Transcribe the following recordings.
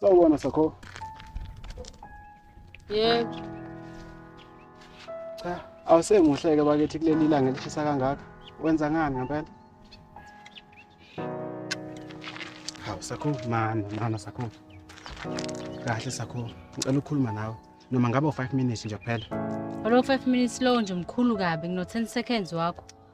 Sawubona Sakho. Yebo. Cha, awusemuhle ke bakithi kuleli ilanga elishisa kangaka. Wenza ngani ngempela? Hawu Sakho, mani, mama Sakho. Kahle Sakho, ngicela ukukhuluma nawe. Noma ngabe u5 minutes nje kuphela. Olo 5 minutes lowo nje mkhulu kabi ngino 10 seconds wakho.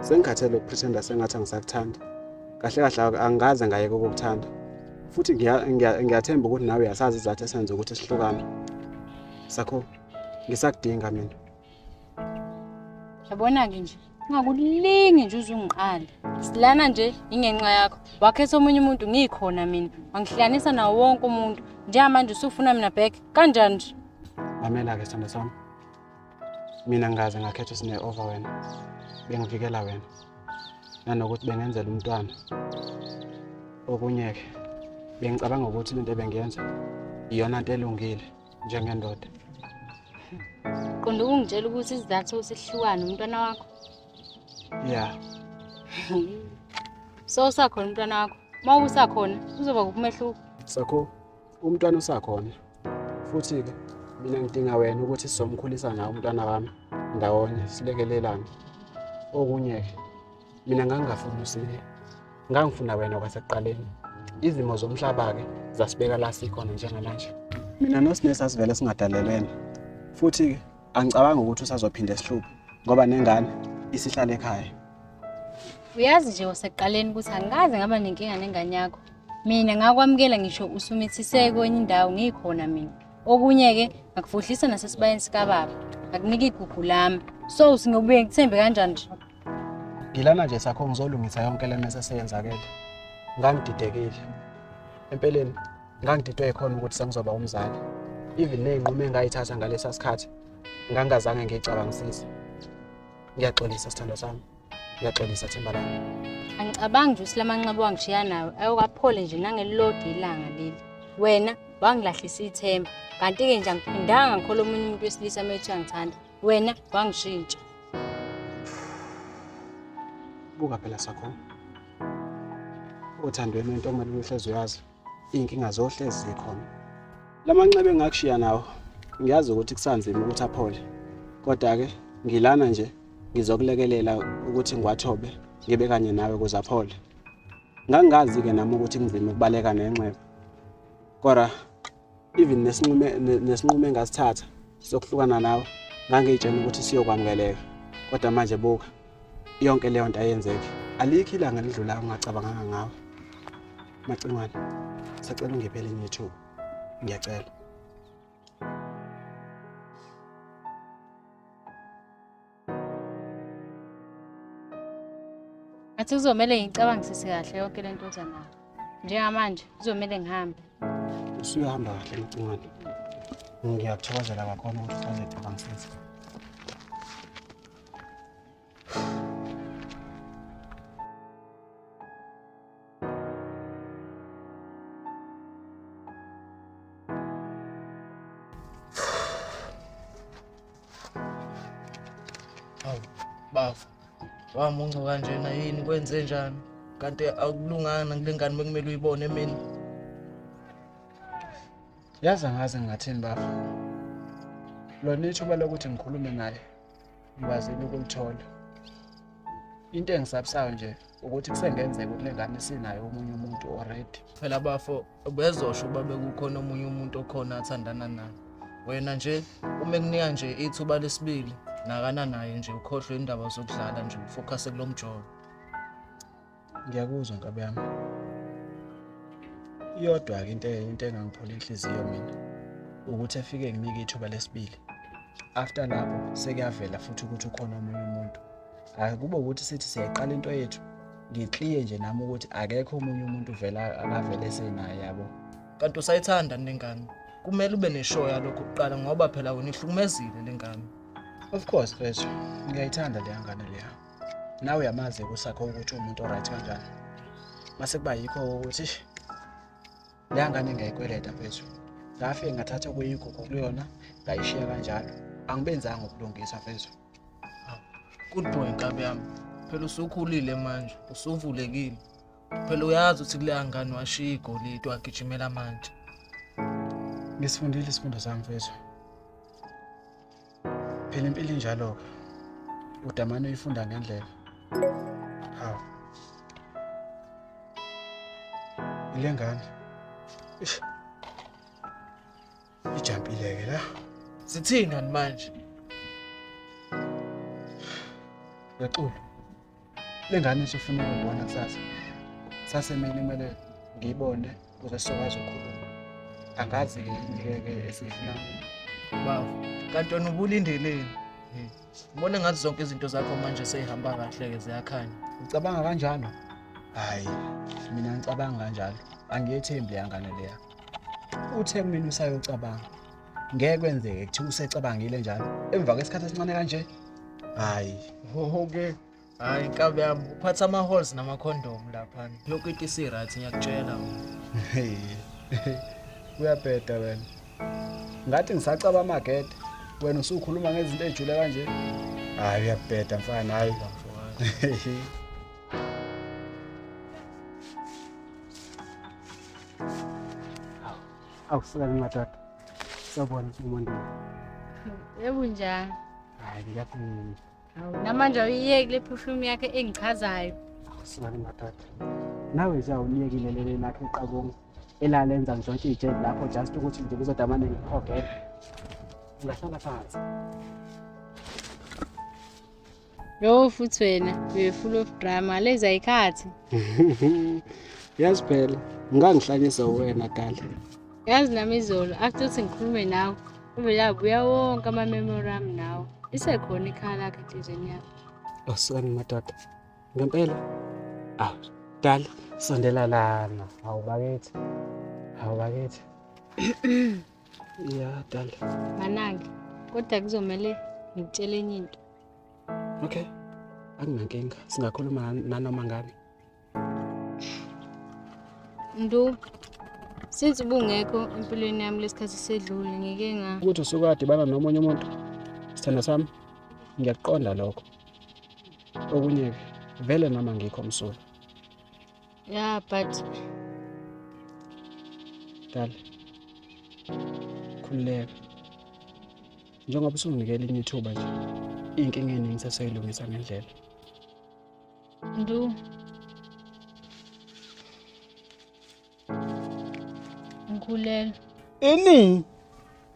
Sengikhathele ukupretenda sengathi angisakuthandi. Kahle kahle angikaze ngayeke ukukuthanda. Futhi ngiyathemba ukuthi nawe uyasazi izathu esenza ukuthi sihlukane. Sakho ngisakudinga mina. Yabona-ke nje ungakulingi nje uzungiqala silana nje ingenxa yakho wakhetha omunye umuntu ngikhona mina wangihlanisa nawo wonke umuntu njengamanje usufuna mina back kanjani nje mamela-ke sithando sami mina ngaze ngakhetha usine over wena bengivikela wena nanokuthi bengenzela umntwana okunye-ke bengicabanga ukuthi lento ebengiyenza iyona nto elungile njengendoda qonda ukungitshela ukuthi isizathu sihlukane umntwana wakho ya so usakhona umntwana wakho uma usakhona kuzoba kukumehluko sakho umntwana usakhona futhi-ke mina ngidinga wena ukuthi sizomkhulisa nawo umntwana wami ndawonye silekelelane okunye-ke mina ngangingafuni usileya ngangifuna wena kwasekuqaleni izimo zomhlaba-ke zasibeka la sikhona njengamanje mina nosine sasivele singadalelene futhi-ke angicabangi ukuthi usazophinde esihluphe ngoba nengane isihlale ekhaya uyazi nje wasekuqaleni ukuthi angikaze ngaba nenkinga nengane yakho mina ngakwamukela ngisho usumithiseke kwenye indawo ngikhona mina okunye-ke ngakufuhlisa nasesibayeni sikababa ngakunika igugu lami so singobuye ngithembe kanjani nje ngilana nje sakho ngizolungisa yonke le mese seyenzakele ngangididekile empeleni ngangididwe yikhona ukuthi sengizoba umzali even ney'nqumo engayithatha ngalesa sikhathi ngangingazange ngiyicabangisise ngiyaxolisa sithandwa sami Ngiyaxolisa Themba lami. Angicabangi nje usilamanxeba wangishiya nawe ayokaphole nje nangelilodi ilanga leli. Wena wangilahlisa ithemba kanti-ke nje angiphindanga ngikhola omunye umuntu wesilisa uma ethi angithanda wena wangishintsha. Buka phela sakho. Othandweni wentombazane uhlezi uyazi. iy'nkinga zohlezi zikhona la manxeba engakushiya nawo ngiyazi ukuthi kusanzima ukuthi aphole kodwa-ke ngilana nje ngizokulekelela ukuthi ngiwathobe ngibe kanye nawe kuze aphole ngangingazi-ke nami ukuthi kunzima ukubaleka nenxeba kodwa even nesinqume nesinqume engasithatha sokuhlukana nawe ngangiyitshena ukuthi siyokwamukeleka kodwa manje buka yonke leyo nto ayenzeki alikho ilanga lidlulayo ungacabanganga ngawe macingwane sacela ungiphe elinye ithuba ngiyacela Ngathi kuzomele ngicabangisise kahle yonke le nto oza nayo. Njengamanje kuzomele ngihambe. Usuyahamba kahle Mcimane. Ngiyakuthokozela kakhulu ukuthi usazecabangisisa. wamunca kanjena yini kwenze njani kanti akulunganga kule ngane bekumele uyibone emini yazi angaze ngingathini bafo lona ithuba lokuthi ngikhulume naye ngibazile ukulithola into engisabisayo nje ukuthi kusengenzeka ukuthi lengane sinayo omunye umuntu already phela bafo bezosho ukuba bekukhona omunye umuntu okhona athandana naye wena nje uma ekunika nje ithuba lesibili nakana naye nje ukhohlwe indaba zokudlala nje ufokhase kulo mjolo ngiyakuzwa nkabi yami iyodwa-ke into into engangiphola inhliziyo mina ukuthi efike nginike ithuba lesibili after lapho sekuyavela futhi ukuthi ukhona omunye umuntu hhayi kube ukuthi sithi siyayiqala into yethu ngikliye nje nami ukuthi akekho omunye umuntu vela akavele senaye yabo kanti usayithanda nengane kumele ube neshow yalokho kuqala ngoba phela wena ihlukumezile lengane of course mfethu ngiyayithanda leya ngane leya nawe uyamazi kusakho ukuthi umuntu oright kanjani mase kuba yikho ukuthi leya ngane ngiyayikweleta mfethu ngafike ngathatha okuyigugu kuyona ngayishiya kanjalo angibenzanga ukulungisa mfethu good boy nkabi yami phela usukhulile manje usuvulekile phela uyazi ukuthi kuleya ngane washiya igolide wagijimela manje ngisifundile isifundo sami mfethu phela impilo injalo-ke udamane uyifunda ngendlela hawu ile ngane ish ijampile-ke la sithini manje ngexulu Le ngane isifuna ukubona kusasa. Sase mina kumele ngiyibone ukuze sizokwazi ukukhuluma. Angazi ngeke esifuna. Baba, kanti wena ubulindeleni? Ngibona ngathi zonke izinto zakho manje seyihamba kahle-ke ziyakhanya. Ucabanga kanjalo? Hhayi, mina ngicabanga kanjalo. Angiyethembi leya ngane leya. Uthe kumina usayocabanga. ngeke kwenzeke kuthiwa usecabangile njalo emva kwesikhathi esincane kanje hayi hohoke hayi nkabi yami uphatha ama-halls namakhondom laphana yonke into isi-right ngiyakutshela uyabheda wena ngathi ngisacaba amagede wena usukhuluma ngezinto ey'jule kanje hayi uyabheda mfana hayi Awu sibona madoda. Sawubona umuntu. Yebo njani? Hayi ngiyaphumula. Awu namanje uyiyeki le perfume yakhe engichazayo. Awu sibona madoda. Nawe nje awuliyekile lele lakhe iqabongo elalenza ngidontshe ijeli lapho just ukuthi nje kuzodamane ngikhogele. Ungahlala phansi. Yo futhi wena you full of drama leza ikhathi. Yazi phela ngangihlanyisa wena gala. Yazi nami izolo after ukuthi ngikhulume nawe uvele abuya wonke ama memory ami nawe. Isekhona ikhala lakhe enhlizweni yakho. Awusani madoda. Ngempela. Aw, dala sondela lana. Hawu bakithi. Hawu bakithi. ya dala manake kodwa kuzomele ngikutshele enye into okay akunankinga singakhuluma nanoma ngani ndu since ubungekho empilweni yami lesikhathi sedlule ngike nga ukuthi usukwadiba nomunye umuntu sithanda sami ngiyakuqonda lokho okunye-ke vele noma ngikho msulu Yeah, but Dala. Khululeka. Njengoba usunginikela elinye ithuba nje. Inkinga eningi ngisasoyilungisa ngendlela. Ndu. Ngikhulelwe. Ini?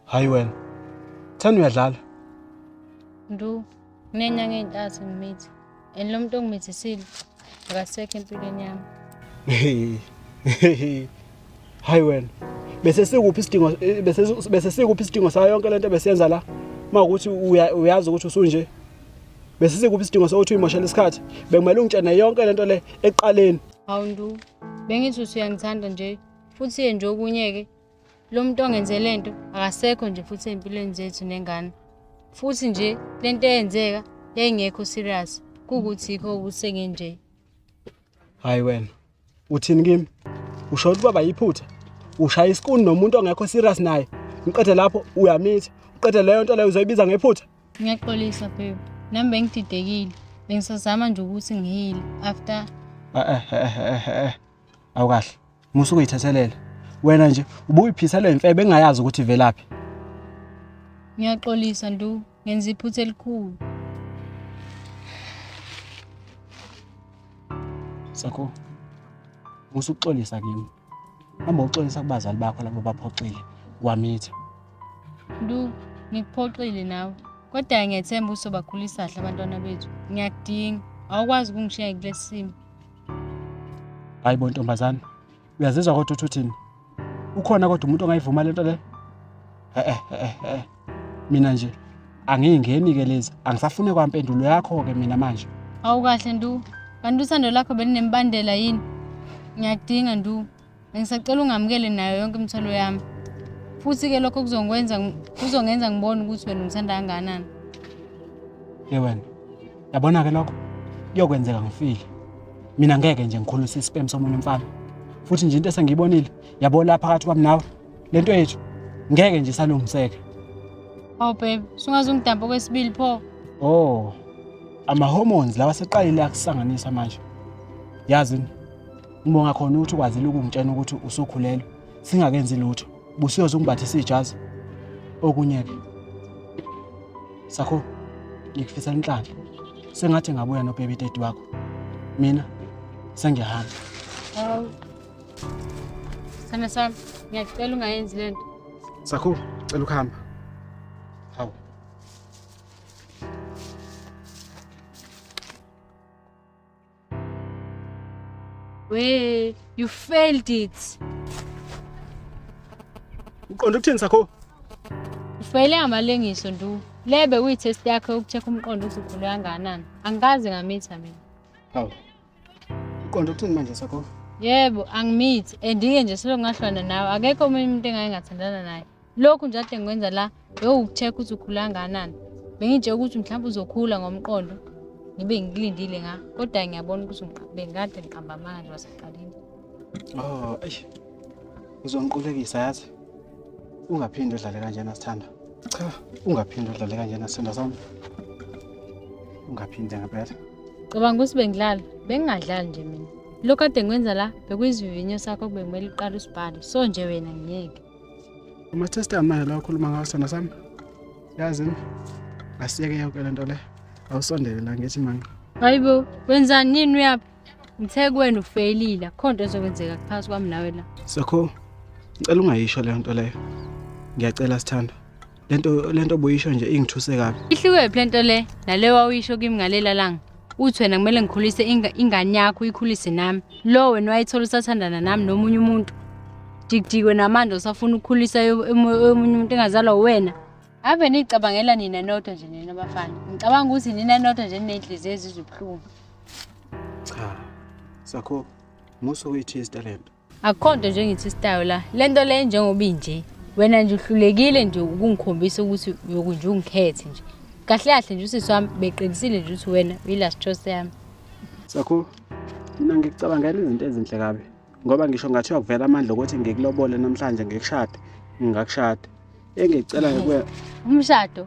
hayi wena thanda uyadlala ndu nginenyanga ey'ntathu ngimithi and lo muntu ongimithisile akasekho empilweni yami hayi wena bese sikuphi isidingo eh, bese bese sikuphi isidingo sayo yonke lento besenza la mawukuthi uyazi ukuthi usunje bese sikuphi isidingo sokuthi uyimoshela isikhathi bekumele ungitshene yonke lento le eqaleni awundu bengithi usuyangithanda nje futhi ye nje okunye ke Lo muntu ongenze le nto akasekho nje futhi ey'mpilweni zethu nengane. Futhi nje le nto eyenzeka yayingekho serious kuwukuthi yikho ukuthi engenje. Hayi wena, uthini kimi? Usho ukuthi baba yiphutha? Ushaya isikuni nomuntu ongekho serious naye. Ngiqede lapho uyamitha. Uqede leyo nto leyo uzoyibiza ngephutha. Ngiyaxolisa babe. Nami bengididekile. Bengisazama nje ukuthi ngihile after Eh eh eh eh eh. Awukahle. Musa ukuyithethelele. Wena nje ubuyiphisa le mfebe engayazi ukuthi ivelaphi. Ngiyaxolisa ndu, ngenza iphutha elikhulu. Sakho. Musa ukuxolisa kimi. Hamba uxolisa kubazali bakho labo baphoxile wamitha. Ndu, ngikuphoxile nawe. Kodwa ngiyethemba usobakhulisa kahle abantwana bethu. Ngiyakudinga. Awukwazi ukungishiya kulesimo. hayi bo ntombazane uyazizwa kodwa uthi uthini ukhona kodwa umuntu ongayivuma lento le eh eh eh mina nje angiyingeni ke lezi angisafune kwampendulo yakho ke mina manje awukahle ndu kanti usando lakho belinembandela yini ngiyadinga ndu Ngisacela ungamukele nayo yonke imithwalo yami. Futhi-ke lokho kuzongwenza kuzongenza ngibone ukuthi wena ungithanda kangakanani. Ye wena, yabona-ke lokho kuyokwenzeka ngifile. Mina ngeke nje ngikhulise isipemu somunye umfana. Futhi nje into esengiyibonile, yabo la phakathi kwami nawe, le nto yethu ngeke nje isalungiseke. Hawu babe, sungaze ungidampe okwesibili pho. Oh, ama-hormones lawa seqalile akusanganisa manje. Yazi Ngibonga khona ukuthi ukwazile ukungitshena ukuthi usukhulelwe singakenzi lutho. Busiyoze ungibathise ijazi. Okunye ke. Sakho ngikufisa inhlanhla. Sengathi ngabuya no baby daddy wakho. Mina sengiyahamba. Hawu. Sana sana ngiyacela ungayenzi lento. Sakho cela ukuhamba. We, you failed it. Uqonda ukuthini sakho? Ufele amalengiso ndu. Lebe kuyi test yakhe ukucheck umqondo ukuthi ukhule kangakanani. Angikaze ngamitha mina. Hawu. Uqonda ukuthini manje sakho? Yebo, angimithi. Andike nje selongahlwana nawe. Akekho omunye umuntu engayengathandana naye. lokhu nje ade ngikwenza la bewukucheck ukuthi ukhula kangakanani bengitshela ukuthi mhlawumbe uzokhula ngomqondo ngibe ngikulindile nga kodwa ngiyabona ukuthi bengikade ngiqamba amanga nje wasekuqaleni oh eish uzongiqulekisa yazi ungaphinde udlale kanjena sithanda cha ungaphinde udlale kanjena sithanda sami ungaphinde ngempela cabanga ukuthi bengidlala bengingadlali nje mina lokhu kade ngikwenza la bekuyizivivinyo sakho kube kumele uqale usibhale so nje wena ngiyeke Ama-tester manje la ukhuluma ngawo sona sami yazi asiyeke yonke le nto le awusondele la ngithi manga hayi bo wenzani nini uyaphi ngithe kuwena ufeyilile akukho nto ezokwenzeka kuphakathi kwami nawe la sakho ngicela ungayisho leyo nto leyo ngiyacela sithandwa lento lento buyisho nje ingithuse kabi ihlukephi lento le nale wawuyisho kimi ngalela langa uthi wena kumele ngikhulise ingane yakho uyikhulise nami lo wena wayithola usathandana nami nomunye umuntu dikdikwe namanje usafuna ukukhulisa omunye umuntu engazalwa uwena ave niyicabangela nina nodwa nje nina bafana ngicabanga ukuthi nina nodwa nje niney'nhliziyo ezizwe ubuhlungu cha sakho musa uyithi isitalento akukho nto nje engithi istayo la le nto le njengoba inje wena nje uhlulekile nje ukungikhombisa ukuthi uyoku nje ungikhethe nje kahle kahle nje usisi wami beqinisile nje ukuthi wena uyi-last choice yami sakho mina ngikucabangela izinto ezinhle kabi ngoba ngisho ngathiwa kuvela amandla okuthi ngikulobole namhlanje ngikushade ngingakushada engicelayo kuwe umshado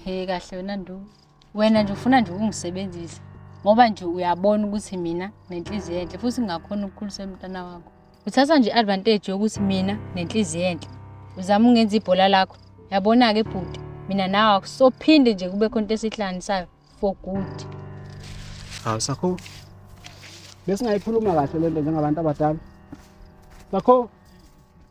he kahle wena nduku wena nje ufuna nje ukungisebenzisa ngoba nje uyabona ukuthi mina nenhliziyo enhle futhi ngingakhona ukukhulisa umntana wakho uthatha nje i-advantage yokuthi mina nenhliziyo enhle uzama ungenza ibhola lakho yabona-ke bhuti mina nawe akusophinde nje kube khonto esihlanganisayo for good hawu sakho besingayikhuluma kahle le nto njengabantu abadala sakho